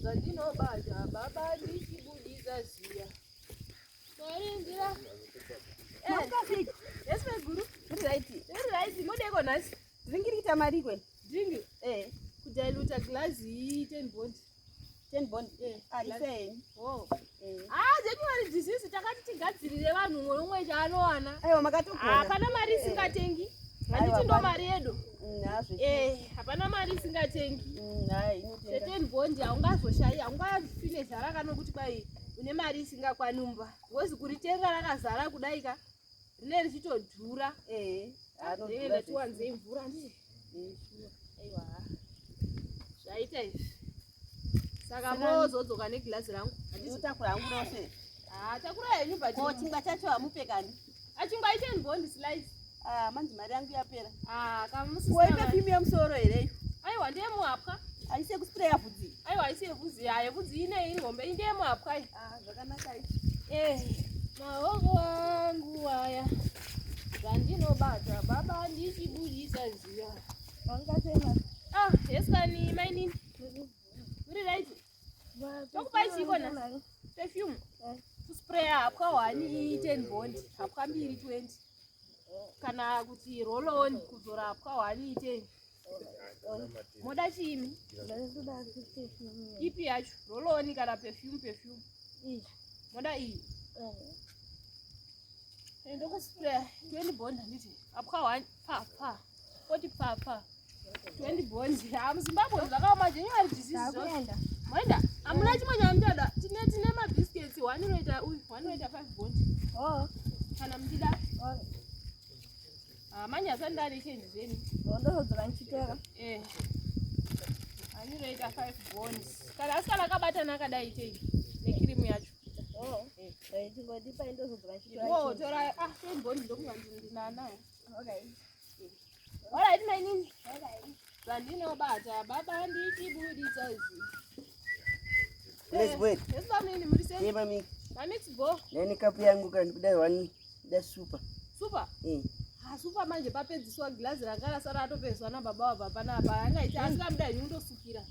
zvandinobata baba ndichibudisa ziya maringira esmeguru muri right muri right modeko nhasi dhringiri kuita mari kwe dringi eh kudiluta glazi ten bond ten bond eh aiseni ah, oh haa january disease takati tigadzirire vanhu umwe nomwe chaanowana aiwa makatogona hapana mari isingatengi handiti ndo mari yedu eh, hapana mari isingatengi certain bond haungazoshayi haungafine zara kanokuti kwai une mari isingakwani mumba because kuritenga rakazara kudai ka Rine richitodhura. Eh. Anodhura. Tiwanze mvura ndi. Aiwa. Zvaita izvi. Saka mozodzoka neglass rangu. Handisi takura hangu rose. Ah, takura yenyu but. Ko chingwa chacho hamupe kani? Achingwa ah, iten bond slice. Ah, manje mari yangu yapera. Ah, kamusisi. Woipe pimi yemusoro here? Aiwa ndiye muhapwa. Aise kuspreya vhudzi. Aiwa haisi yevhudzi yayo, vhudzi ine iri hombe inde yemapwa iyi. Ah, zvakanaka izvi. Eh, mahongo angu aya zvandinobata baba ndichibudisa ziya. Wangasema. Ah, yes kani mainini. Muri right? Tokupai chiko na perfume. Eh. Spray hapwa 1 10 bond, hapwa mbiri 20. Kana kuti roll on kuzora hapwa 1 10. Moda chiimi? Ipi yacho? Roloni kana perfume perfume? Iyi. Moda iyi? Eh. Ndokuspray 20 bond handiti? Apwa one pa pa. Koti pa pa. 20 bond. Ah muZimbabwe zvakaoma zvenyu ari disease zvose. Moenda? Amuna chimwe chamuchada. Tine tine ma biscuits one unoita uyu, one unoita 5 bond. Oh. Kana muchida. Oh. Ah, manje asandari change zeni. Ndozodzora ndichitora. Eh. Andiroita 5 bonds. Kana asikana akabatana akadai change nekirimu yacho. Oh. Eh. Eh, Tingodipa ndozodzora ndichitora. Oh, tora ah 10 bonds ndokunga ndinanayo. Okay. All right, my name. All right. Pandinobata baba handiti buditsa izi. Let's wait. Yes, mami, ni mulise. Hey, mami. Mami, it's go. Nani kapu yangu kani kudai wani. Da super. Super? Eh. Ah, super manje papedziswa glass rakala sara atopedzwa na baba wa baba na apa. Anga ita asika mdai nyundo sukira.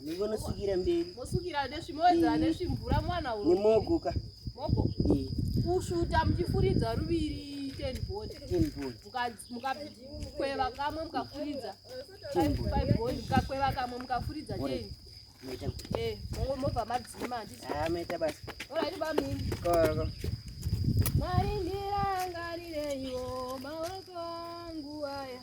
Ndingonosukira mberi. Mosukira nesvimodza eh. nesvimvura mwana uyu. Nemogo ka. Mogo. Eh. Kusvuta muchifuridza ruviri ten bond. Ten bond. Mukakweva kamwe mukafuridza. Ten bond. Five bond mukakweva kamwe mukafuridza ten. Meta. Eh, mongo mobva madzima handiti. Ah, meta basi. Ora iba mimi. Koko. Mari ndirangarirei wo maoko angu aya.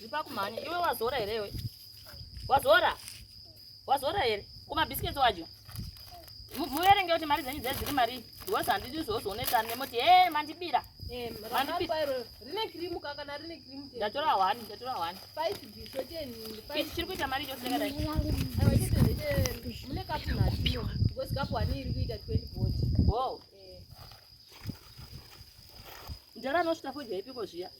Zipa kumhanya. Iwe wazora here iwe? Wazora? Wazora here? Kuma biscuits wacho. Muverenge kuti mari dzenyu dzedziri mari. Because handidi zvozonetsa nemoti. Hey, mandibira. Eh, ndatora one ndatora one chiri kuita mari chose kadai mune kapu nhatu because kapu one iri kuita 20 bot wow eh. ndara anosvita fodya ipiko zviya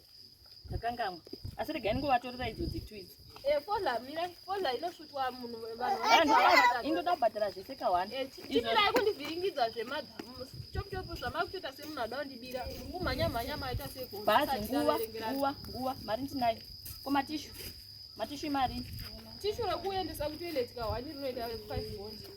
ndakangamwa asi regai ndingovatorera idzo dzitu idzi eh, fola mira fola inosvutwa munhu vanhuindoda kubhadhara zvese kawani eh, chimirai kundivhiringidza zvemadhamu chopuchopu zvamakutoita semunhu ada kundibira kumhanya mhanya maita sekubhazi nguva nguva nguva mari ndinayo ko matishu matishu imari tishu rekuendesa kutoiletika hwani rinoita 5 bonzi